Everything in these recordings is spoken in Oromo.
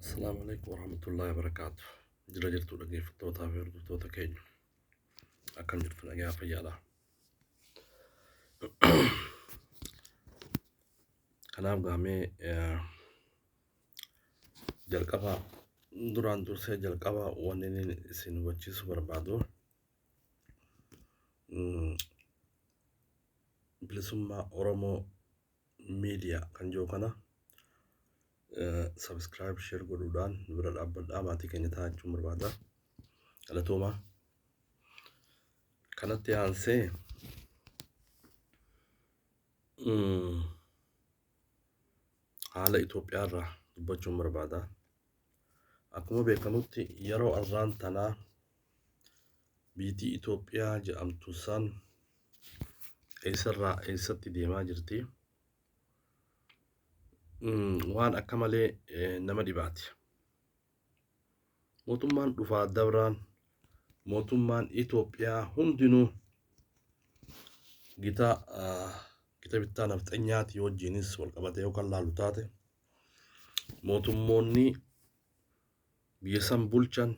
Assalamu alaikum warahmatullahi wabarakatuh. Jira jirtu dhaggeeffattootaa fi hordoftoota keenya. Akkam jirtu nagaa fayyaadha. Kanaaf gaamee eh, jalqaba duraan dursee jalqaba wanni inni isin hubachiisu barbaadu mm, bilisummaa Oromoo media kan jiru kana subscribe share godhuudhaan nu bira dhaabbadhaa maatii keenya ta'aa jechuun barbaada galatoomaa kanatti aansee mm, haala Itoophiyaa irraa dubbachuun barbaada akkuma beekamutti yeroo arraan tanaa biitii Itoophiyaa jedhamtu san eessarraa eessatti deemaa jirti Mm, waan akka malee eh, nama dhibaati mootummaan dhufaa dabraan mootummaan Itoophiyaa hundinuu gita ah, gita bittaa nafxanyaati wajjiinis wal qabatee yookaan laalu taate mootummoonni biyya san bulchan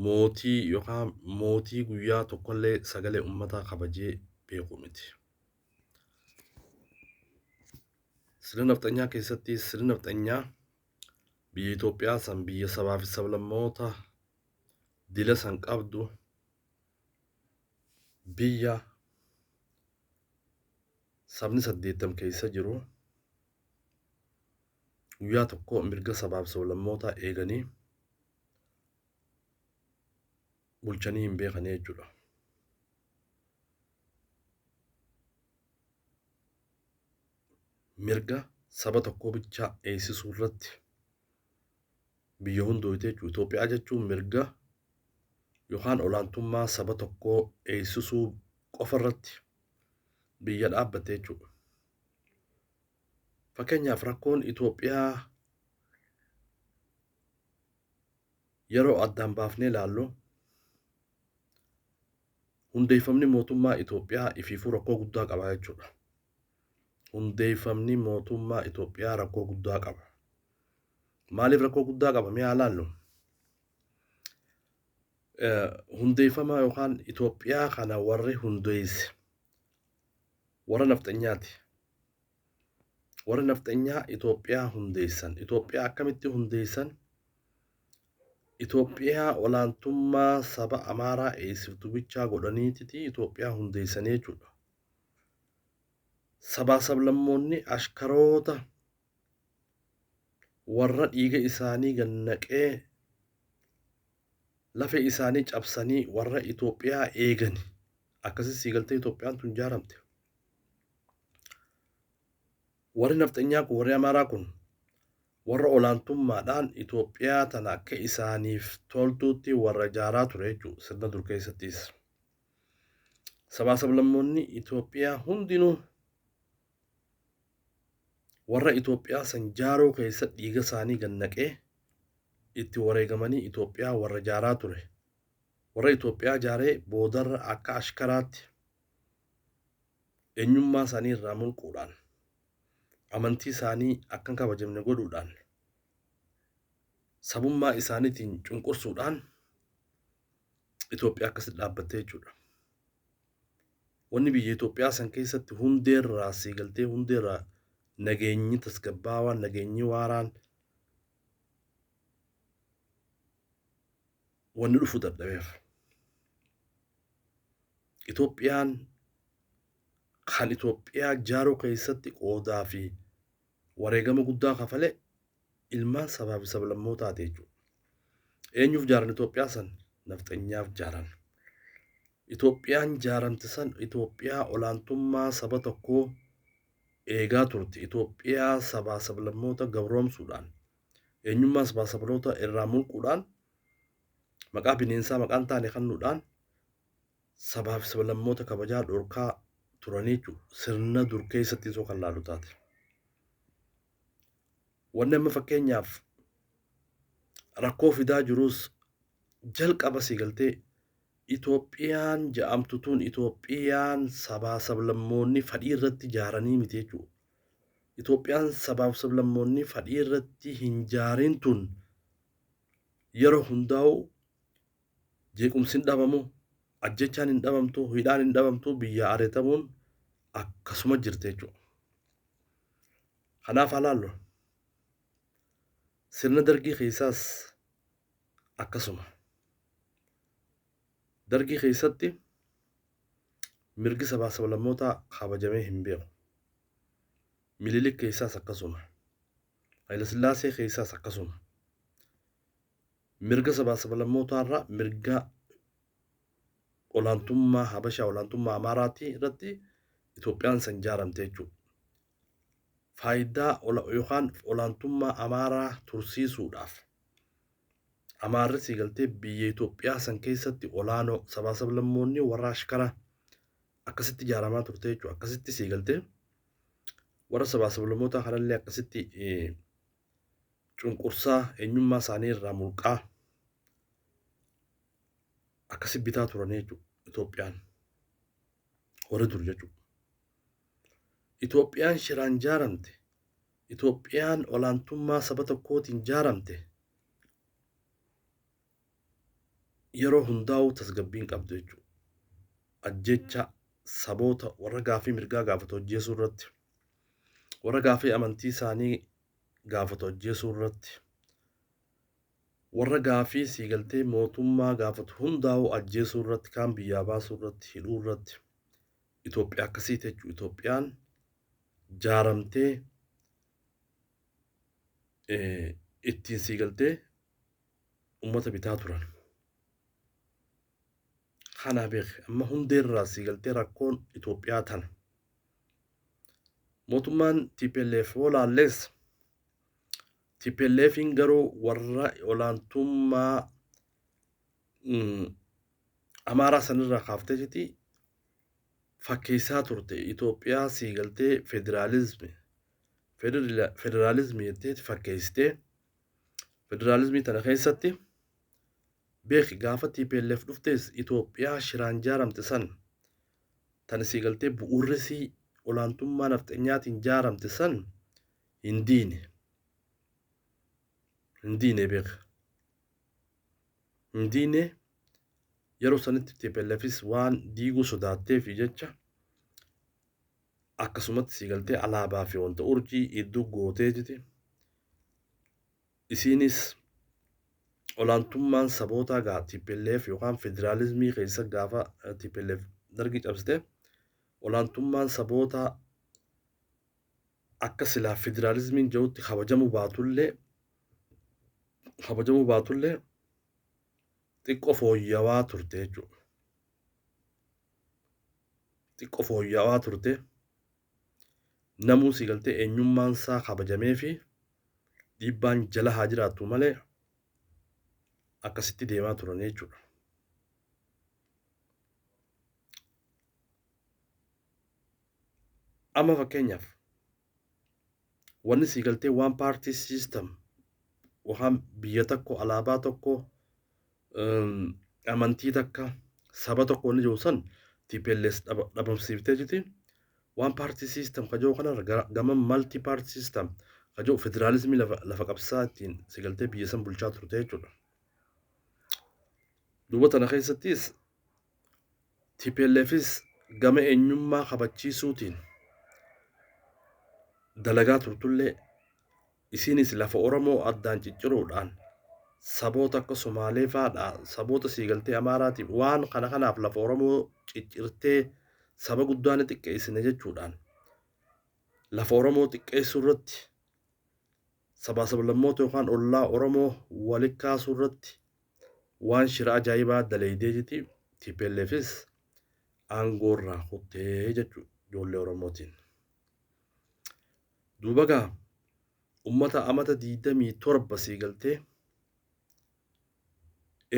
Mootii yookaan mootii guyyaa tokkollee sagalee ummataa kabajee beeku miti. Sirna nafxanyaa keessatti sirni nafxanyaa biyya Itoophiyaa san biyya sabaa fi sablammoota dila san qabdu biyya sabni saddeettam keessa jiru guyyaa tokko mirga sabaa fi sablammootaa eeganii bulchanii hin beekanii jechuudha. Mirga saba tokkoo bichaa eegsisuu irratti biyya hundooyte jechuudha. Itoophiyaa jechuun mirga yookaan olaantummaa saba tokkoo eegsisuu qofa irratti biyya dhaabbatte jechuudha. Fakkeenyaaf rakkoon Itoophiyaa yeroo addaan baafnee ilaallu hundeeffamni mootummaa Itoophiyaa ifiifuu rakkoo guddaa qaba jechuudha. Hundeeffamni mootummaa Itoophiyaa rakkoo guddaa qaba. Maaliif rakkoo guddaa qaba mee haa ilaallu? Eh, Hundeeffama yookaan Itoophiyaa kana warri hundeesse warra nafxanyaati. Warri nafxenyaa Itoophiyaa hundeessan. Itoophiyaa akkamitti hundeessan? Itoophiyaa olaantummaa saba Amaaraa eegsiftu bichaa godhaniititi Itoophiyaa hundeessanii jechuudha. Sabaa sablammoonni ashkaroota warra dhiiga isaanii gannaqee lafee isaanii cabsanii warra Itoophiyaa eegani. Akkasii sii galtee Itoophiyaan tun jaaramte. Warri nafxanyaa kun warri Amaaraa kun warra olaantummaadhaan Itoophiyaa tana akka isaaniif toltuutti warra ijaaraa ture jechuudha sirna dur keessattis. Sabaa sablammoonni Itoophiyaa hundinuu warra Itoophiyaa san jaaruu keessa dhiiga isaanii gannaqee itti wareegamanii Itoophiyaa warra jaaraa ture. Warra Itoophiyaa jaaree boodarra akka ashkaraatti eenyummaa isaanii irraa mulquudhaan amantii isaanii akka hin kabajamne godhuudhaan sabummaa isaaniitiin cunqursuudhaan Itoophiyaa akkasitti dhaabbattee jechuudha. Wanni biyya Itoophiyaa san keessatti hundeerraa siigaltee hundeerraa nageenyi tasgabbaawaan nageenyi waaraan wanni dhufu dadhabeef. Itoophiyaan kan Itoophiyaa jaaruu keessatti qoodaa fi wareegama guddaa kafale ilmaan sabaa fi sablammootaati jechuudha. Eenyuuf jaaran Itoophiyaa san? Nafxanyaaf jaaran. Itoophiyaan jaaramte san Itoophiyaa olaantummaa saba tokkoo eegaa turte. Itoophiyaa sabaa sablammoota gabroomsuudhaan eenyummaa sabaa sabloota irraa mulquudhaan maqaa bineensaa maqaa hin taane kennuudhaan sabaa fi sablammoota kabajaa dhorkaa turanii jechuudha. Sirna dur keessatti isoo kan laalu taate. Wanni amma fakkeenyaaf rakkoo fidaa jirus jalqaba si galtee Itoophiyaan ja'amtu tun Itoophiyaan sabaa sablammoonni fadhii irratti jaaranii miti jechuudha. Itoophiyaan sabaaf sablammoonni fadhii irratti hin jaarin tun yeroo hundaa'u jeequmsi hin dhabamu, ajjechaan hin dhabamtu, hidhaan hin dhabamtu, biyyaa areetamuun akkasuma jirti jechuudha. Kanaaf halaallu sirna dargii keessaas akkasuma. Dargii keessatti mirgi sabaa sablammootaa kabajamee hin beeku. Mililik keessaas akkasuma. Hayilasillaasee keessaas akkasuma. Mirga sabaa sabalammootaarraa mirga olaantummaa Habashaa olaantummaa Amaaraatii irratti Itoophiyaan san jaaramte jechuudha. Faayidaa yookaan olaantummaa Amaaraa tursiisuudhaaf Amaarri siigaltee biyya Itoophiyaa san keessatti olaanoo sabaa sablammoonni warra ashkara akkasitti ijaaramaa turte jechuudha. Akkasitti sii galtee warra sabaa sablammootaa kanallee akkasitti cunqursaa eenyummaa isaanii irraa mulqaa akkasi bitaa turan jechuudha Itoophiyaan warri dur jechuudha. Itoophiyaan shiraan jaaramte Itoophiyaan olaantummaa saba tokkootiin jaaramte yeroo hundaa'uu tasgabbiin qabdu jechuudha. Ajjeechaa saboota warra gaafii mirgaa gaafatu ajjeesuu irratti, warra gaafii amantii isaanii gaafatu ajjeesuu irratti, warra gaafii siigaltee mootummaa gaafatu hundaa'uu ajjeesuu irratti, kaan biyyaa baasuu irratti, hidhuu irratti Itoophiyaa akkasii jechuudha. Itoophiyaan jaaramtee ittiin siigaltee ummata bitaa turan. Kanaa beeki amma hundeerraa sii galtee rakkoon Itoophiyaa tana. Mootummaan TPLF yoo laallees TPLFiin garuu warra olaantummaa mm, Amaaraa sanirraa kaafteetiti fakkeessaa turte Itoophiyaa sii galtee federaalizmi federila- federaalizmi jetteeti fakkeessitee Federaalizmii tana keessatti beeki gaafa TPLF dhuftees Itoophiyaa shiraan jaaramte san tana sii galtee bu'uurrisii olaantummaa nafxenyaatiin jaaramte san hin diine. Hin diine beeka. Hin diine yeroo sanitti TPLFis waan diiguu sodaatteefi jecha akkasumatti si galtee alaabaa fi wanta urjii idduu gootee jete isiinis olaantummaan sabootaa gaa TPLF yookaan federaalizmii keessa gaafa eh, TPLF dargi cabsite olaantummaan sabootaa akka silaa federaalizmiin jirutti kabajamuu baatullee kabajamuu baatullee xiqqoo fooyyawaa turte jechuudha. xiqqo fooyya'aa turte namuu si galtee eenyummaan isaa kabajamee fi dhiibbaan jala haa jiraattu malee akkasitti deemaa turan jechuudha. Amma fakkeenyaaf wanni sii galtee waan paartii siistam waan biyya tokko alaabaa tokko amantii takka saba tokko wanni jiru san TPLS dhabamsiiftee jiti waan paartii siistam ka jiru kanarra gama maltii paartii siistam ka jiru federaalizimii lafa qabsaa ittiin si galtee biyya san bulchaa turte jechuudha. Duuba tana keessattis TPLFis gama eenyummaa kabachiisuutiin dalagaa turtullee isiinis lafa Oromoo addaan cicciruudhaan saboota akka Somaalee faadhaa saboota siigaltee Amaaraatiif waan kana kanaaf lafa Oromoo ciccirtee saba guddaa ni xiqqeessina jechuudhaan lafa Oromoo xiqqeessuu irratti sabaa sablammoota yookaan ollaa Oromoo wali kaasuu irratti waan shira ajaa'ibaa daleeydee jiti TPLFis aangoo irraa kuttee jechu ijoollee Oromootiin. Duubagaa ummata amata 27 sii galtee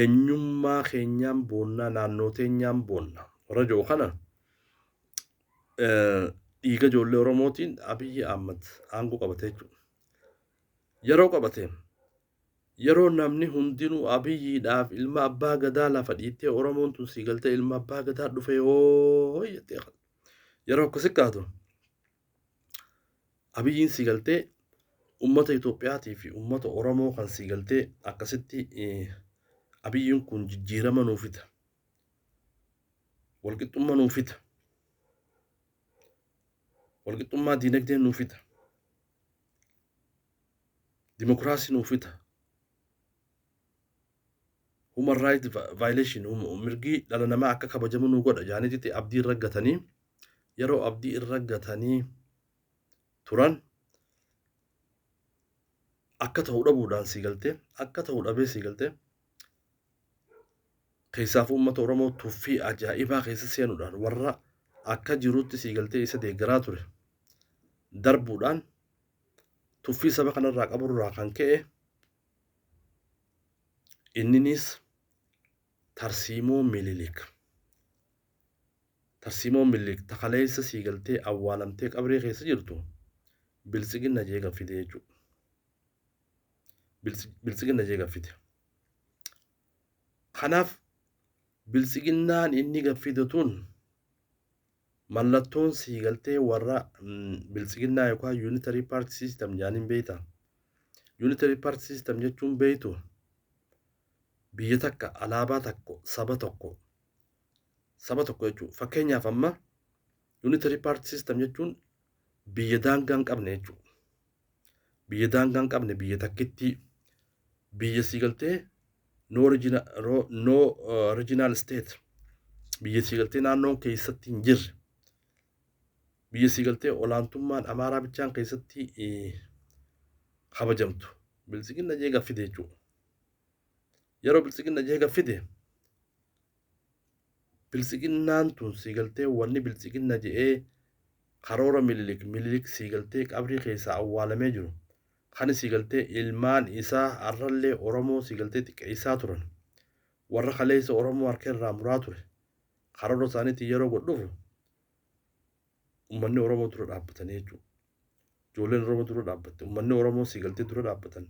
enyummaa keenyaan boonnaa naannoo teenyaan boonna warra jedhu kana dhiiga ijoollee Oromootiin Abiyyi Ahmad aangoo qabate jechuudha. Yeroo qabate yeroo namni hundinuu Abiyyiidhaaf ilma abbaa gadaa lafa dhiittee Oromoon tun sii galtee ilma abbaa gadaa dhufe hoo jettee yeroo akkasi kaatu Abiyyiin sii galtee ummata Itoophiyaatii fi ummata Oromoo kan sii galtee akkasitti abiyyiin kun jijjiirama nuu fida. Walqixxummaa nuu fida. Walqixxummaa diinagdee nuu fida. Dimokiraasii nuu fida. human right violation mirgi dhala namaa akka kabajamu nu godha jaaniititti abdii irra gatanii yeroo abdii irra gatanii turan akka ta'u dhabuudhaan sii galtee akka ta'u dhabee sii galtee keessaaf uummata Oromoo tuffii ajaa'ibaa keessa seenuudhaan warra akka jirutti sii galtee isa deeggaraa ture darbuudhaan tuffii saba kanarraa qaburraa kan ka'e Inninis tarsiimoo Minilik. Tarsiimoon Minilik ta kaleessa sii galtee awwaalamtee qabree keessa jirtu biltsiginna jee gaffite jechuu. Biltsiginna jee gaffite. Kanaaf biltsiginnaan inni gaffite tun Mallattoon siigaltee warra biltsiginnaa yookaan unitary party system jaaniin beeyta. Unitary party system jechuun beeytu biyya takka alaabaa takko saba tokko saba tokko jechuudha. Fakkeenyaaf amma unitary party system jechuun biyya daangaa hin qabne jechuudha. biyya daangaa hin qabne biyya takkittii biyya sii galtee no regional, ro- no, uh, regional state biyya sii galtee naannoon keessatti hin jirre biyya sii galtee olaantummaan amaaraa bichaan keessatti eh, kabajamtu biltsiginna jee gaffide jechuudha yeroo biltsiginna jee gaffide Biltsiginnaan tun sii galtee wanni biltsiginna je'ee karoora mililik mililik sii galtee qabrii keessaa awwaalamee jiru kani sii galtee ilmaan isaa arrallee oromoo sii galtee xiqqeessaa turan warra kaleessa oromoo harka irraa muraa ture karoora isaaniitiin yeroo godhufu ummanni oromoo dura dhaabbatanii jechuudha. Ijoolleen oromoo dura dhaabbatte ummanni oromoo sii galtee dura dhaabbatan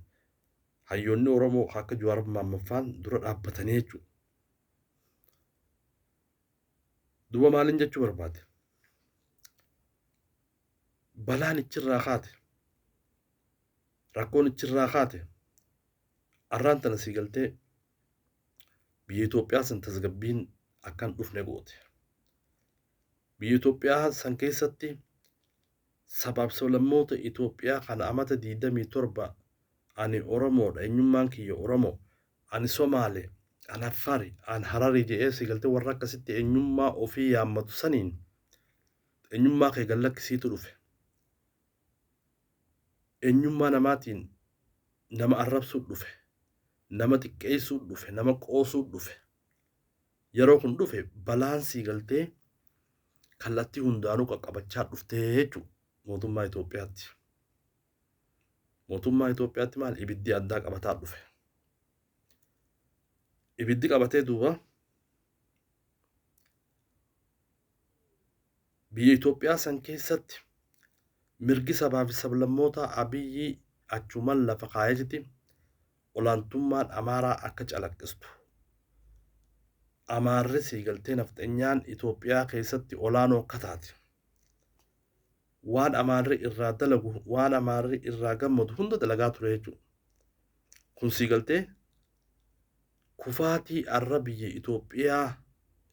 hayyoonni oromoo akka Jawaar Maammaffaan dura dhaabbatanii jechuudha. duba maalin jechuu barbaade balaan ichirraa kaate rakkoon ichirraa kaate arraan tana sii galtee biyya Itoophiyaa san tasgabbiin akkan dhufne goote biyya Itoophiyaa san keessatti sabaaf sablammoota Itoophiyaa kana amata 27 ani Oromoodha eenyummaan kiyya Oromoo Ani Somaale, an Affari, an Harari je'ee si galtee warra akkasitti eenyummaa ofii yaammatu saniin eenyummaa kee gad lakkisiitu dhufe. Eenyummaa namaatiin nama arrabsuu dhufe. Nama xiqqeessuu dhufe. Nama qoosuu dhufe. Yeroo kun dhufe balaan sii galtee kallattii hundaanuu qaqqabachaa dhuftee jechuudha mootummaa Itoophiyaatti. Mootummaa Itoophiyaatti maal ibiddi addaa qabataa dhufe. Ibiddi qabatee duuba biyya Itoophiyaa san keessatti mirgi sabaa fi sablammootaa Abiyyi achuman lafa kaayachiti olaantummaan Amaaraa akka calaqqistu. Amaarri siigaltee nafxenyaan Itoophiyaa keessatti olaanoo akka taate. waan amaarri irraa dalagu waan amaarri irraa gammadu hunda dalagaa ture jechuudha. Kun sii galtee kufaatii arra biyya Itoophiyaa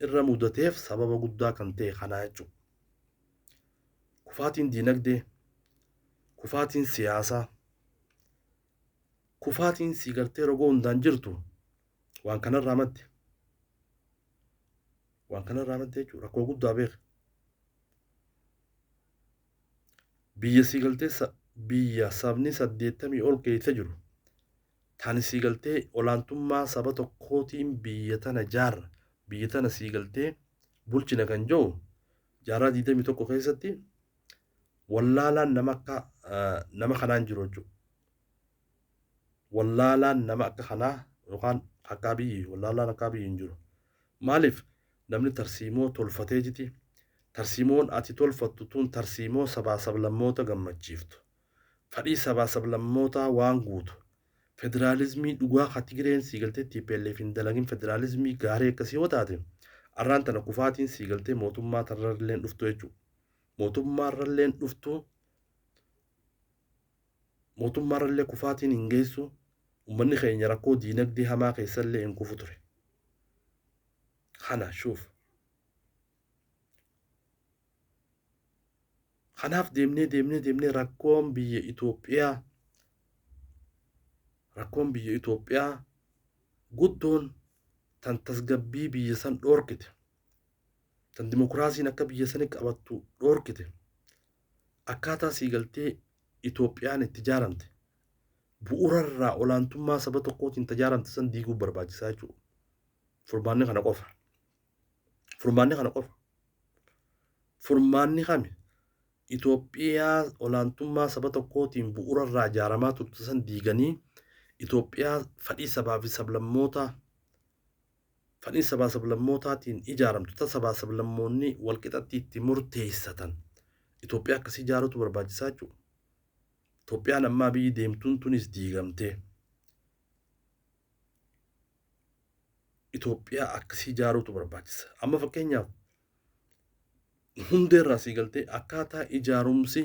irra mudateef sababa guddaa kan ta'e kanaa jechuudha. Kufaatiin diinagdee, kufaatiin siyaasaa, kufaatiin sii galtee rogoo hundaan jirtu waan kanarraa madde. Waan kana irraa madda jechuudha. Rakkoo guddaa beeka. Biyya sii galtee sa- biyya sabni saddeettamii ol keessa jiru tani sii galtee olaantummaa saba tokkootiin biyya tana jaarra biyya tana sii galtee bulchina kan jiru jaarraa digdamii tokko keessatti wallaalaan nama akka ah, nama kanaan jiru jechuudha. wallaalaan nama akka kanaa yookaan akka Abiyyi wallaalaan akka Abiyyi hin jiru. Maaliif namni tarsiimoo tolfatee jiti tarsiimoon ati tolfattu tun tarsiimoo sabaa sablammoota gammachiiftu fadhii sabaa sablammootaa waan guutu federaalizmii dhugaa ka Tigireen sii galtee TPLF hin dalagin federaalizmii gaarii akkasii yoo taate arraan tana kufaatiin sii galtee mootummaa tarrarleen dhuftu jechuudha. Mootummaarralleen dhuftu Mootummaarrallee kufaatiin hin geessu, ummanni keenya rakkoo diinagdee hamaa keessallee hin kufu ture. Kana shuuf. Kanaaf deemnee deemnee deemnee rakkoon biyya Itoophiyaa rakkoon biyya Itoophiyaa guddoon tan tasgabbii biyya san dhoorkite tan dimokiraasiin akka biyya sani qabattu dhoorkite Akkaataa siigaltee Itoophiyaan itti jaaramte bu'ura irraa olaantummaa saba tokkootiin tajaaramte san diiguuf barbaachisaa jechuudha. Furmaanni kana qofa. Furmaanni kana qofa. Furmaanni kami Itoophiyaa olaantummaa saba tokkootiin bu'ura irraa jaaramaa turte san diiganii Itoophiyaa fadhii sabaa fi sablammootaa Falii sabaa sablammootaatiin ijaaramtu ta sabaa sablammoonni walqixatti itti murteessatan Itoophiyaa akkasii ijaaruutu barbaachisaa jechuu Itoophiyaan ammaa biyyi deemtuun tunis diigamtee Itoophiyaa akkasii ijaaruutu barbaachisa. Amma fakkeenyaaf hundeerraa sii galtee akkaataa ijaarumsi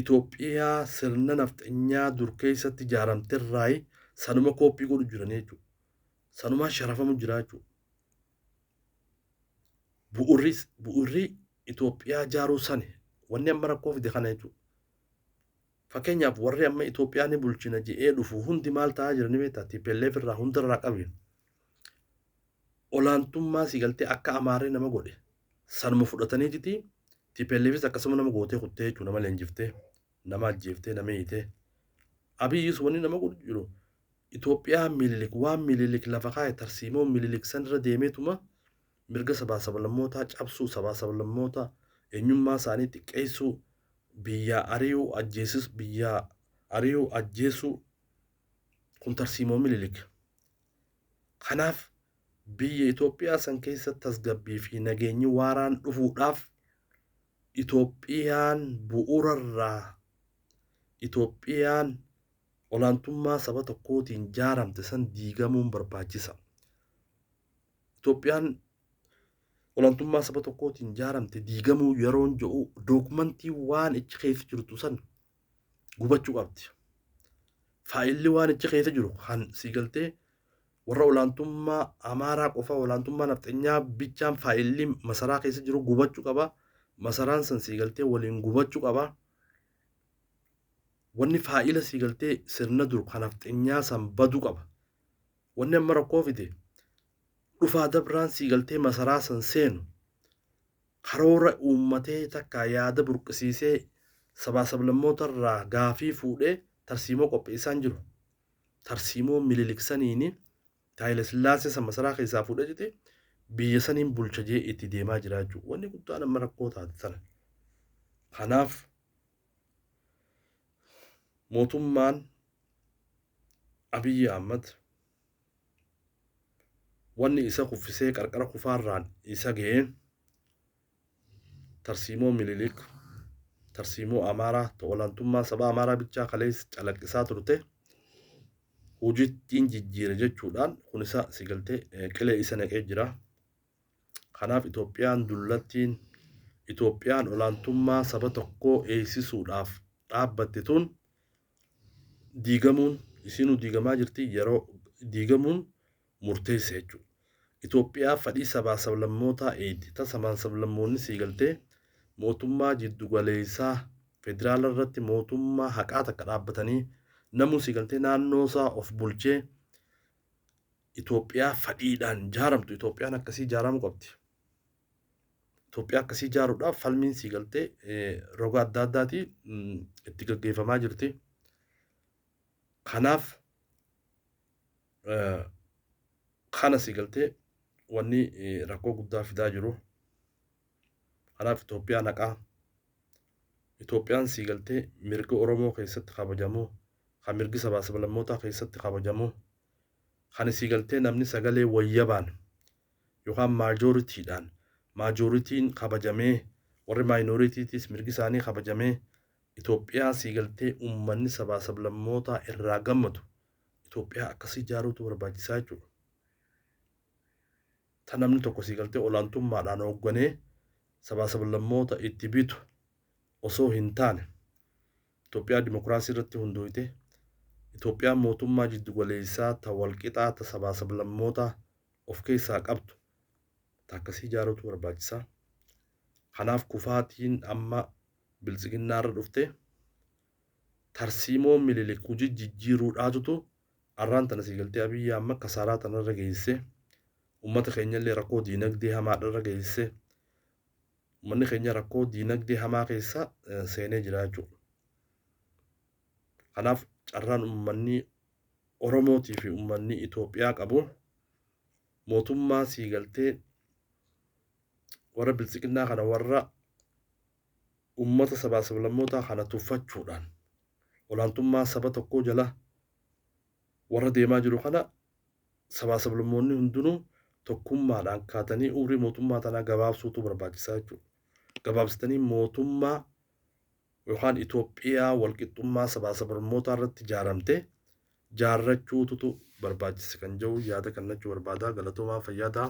Itoophiyaa sirna nafxanyaa dur keessatti ijaaramterraayi sanuma kooppii godhu jiranii jechuudha. Sanumaa sharafamu jiraa jechuudha. Bu'urri bu'urri Itoophiyaa jaaruu sani wanni amma rakkoo fide kana jechuudha. Fakkeenyaaf warri amma Itoophiyaa ni bulchina je'ee dhufu hundi maal ta'aa jira ni beektaa? TPLF irraa hundarraa qabi. Olaantummaa si galtee akka Amaarri nama godhe sanuma fudhatanii jiti TPLFis akkasuma nama gootee kuttee jechuudha nama leenjiftee nama ajjeeftee nama hiitee. Abiyyis wanni nama godhu jiru Itoophiyaan Minilik waan Minilik lafa kaa'e tarsiimoo Minilik sanirra deemeetuma mirga sabaa sablammootaa cabsuu, sabaa sablammoota eenyummaa isaanii xiqqeessuu, biyyaa ari'uu, ajjeesis biyyaa ari'uu, ajjeesuu kun tarsiimoo Minilik. Kanaaf biyya Itoophiyaa san keessa tasgabbii fi nageenyi waaraan dhufuudhaaf Itoophiyaan bu'uurarraa Itoophiyaan olaantummaa saba tokkootiin jaaramte san diigamuun barbaachisa. Itoophiyaan olaantummaa saba tokkootiin jaaramte diigamuu yeroon jedhu dookumantii waan ichi keessa jirtu san gubachuu qabdi. Faayilli waan ichi keessa jiru kan sii galtee warra olaantummaa Amaaraa qofa olaantummaa nafxenyaa bichaan faayilli masaraa keessa jiru gubachuu qaba. Masaraan san sii galtee waliin gubachuu qaba. wanni faayila sii galtee sirna dur kan nafxenyaa san badu qaba wanni amma rakkoo fide dhufaa dabraan sii galtee masaraa san seenu karoora uummatee takkaa yaada burqisiisee sabaa sablammoota irraa gaafii fuudhee tarsiimoo qopheessaan jiru tarsiimoo mililiksaniini taayila sillaasee san masaraa keessaa fuudhee jete biyya saniin bulcha jee itti deemaa jiraachuu wanni guddaan amma rakkoo taate sana kanaaf mootummaan Abiyyi Ahmad wanni isa kuffisee qarqara kufaarraan isa ga'e tarsiimoo Minilik tarsiimoo Amaaraa ta olaantummaa saba Amaaraa bichaa kaleessa calaqqisaa turte hojittiin jijjiire jechuudhaan kun isa sigaltee qilee isa naqee jira. Kanaaf Itoophiyaan dullattiin, Itoophiyaan olaantummaa saba tokkoo eegsisuudhaaf dhaabbatte tun diigamuun, isiinuu diigamaa jirti, yeroo diigamuun murteessa jechuudha. Itoophiyaa fadhii sabaa sablammootaa eegdi. Tasamaan sablammoonni sii galtee mootummaa jiddugaleessaa federaala irratti mootummaa haqaa takka dhaabbatanii namuu sii galtee naannoo isaa of bulchee Itoophiyaa fadhiidhaan jaaramtu Itoophiyaan akkasii jaaramu qabdi. Itoophiyaa akkasii jaaruudhaaf falmiin sii galtee roga adda addaati itti gaggeeffamaa jirti. Kanaaf kana sii galtee wanni rakkoo guddaa fidaa jiru. Kanaaf Itoophiyaa naqaa. Itoophiyaan sii galtee mirga Oromoo keessatti kabajamu kan mirgi sabaa sablammootaa keessatti kabajamu, kan isii galtee namni sagalee wayyabaan yookaan maajooritiidhaan, maajooritiin kabajamee, warri maayinooritiitiis mirgi isaanii kabajamee, Itoophiyaa sii galtee ummanni sabaa sablammootaa irraa gammadu, Itoophiyaa akkasii ijaaruutu barbaachisaa jechuudha. Ta namni tokko sii galtee olaantummaadhaan hoogganee sabaa sablammoota itti bitu osoo hin taane, Itoophiyaa dimokiraasii irratti hundooyte, Itoophiyaan mootummaa jiddu galeessaa ta wal qixaa ta sabaa sablammootaa of keessaa qabdu ta akkasii ijaaruutu barbaachisa. Kanaaf kufaatiin amma Biltsiginnaa irra dhufte tarsiimoo Mililik huji jijjiiruudhaatutu arraan tana sii galtee Abiy Ahmad kasaaraa tana irra geesse, ummata keenya illee rakkoo diinagdee hamaadha irra geesse. Ummanni keenya rakkoo diinagdee hamaa keessa seenee jira jechuudha. Kanaaf carraan ummanni Oromootii fi ummanni Itoophiyaa qabu mootummaa sii galtee warra biltsiginnaa kana warra ummata sabaa sablammootaa kana tuffachuudhaan olaantummaa saba tokkoo jala warra deemaa jiru kana sabaa sablammoonni hundinuu tokkummaadhaan kaatanii umrii mootummaa tanaa gabaabsuutu barbaachisaa jechuudha. Gabaabsitanii mootummaa yookaan Itoophiyaa walqixxummaa sabaa sablammootaa irratti jaaramte jaarrachuututu barbaachisa kan jedhu yaada kannachuu barbaadaa galatoomaa fayyaa ta'a.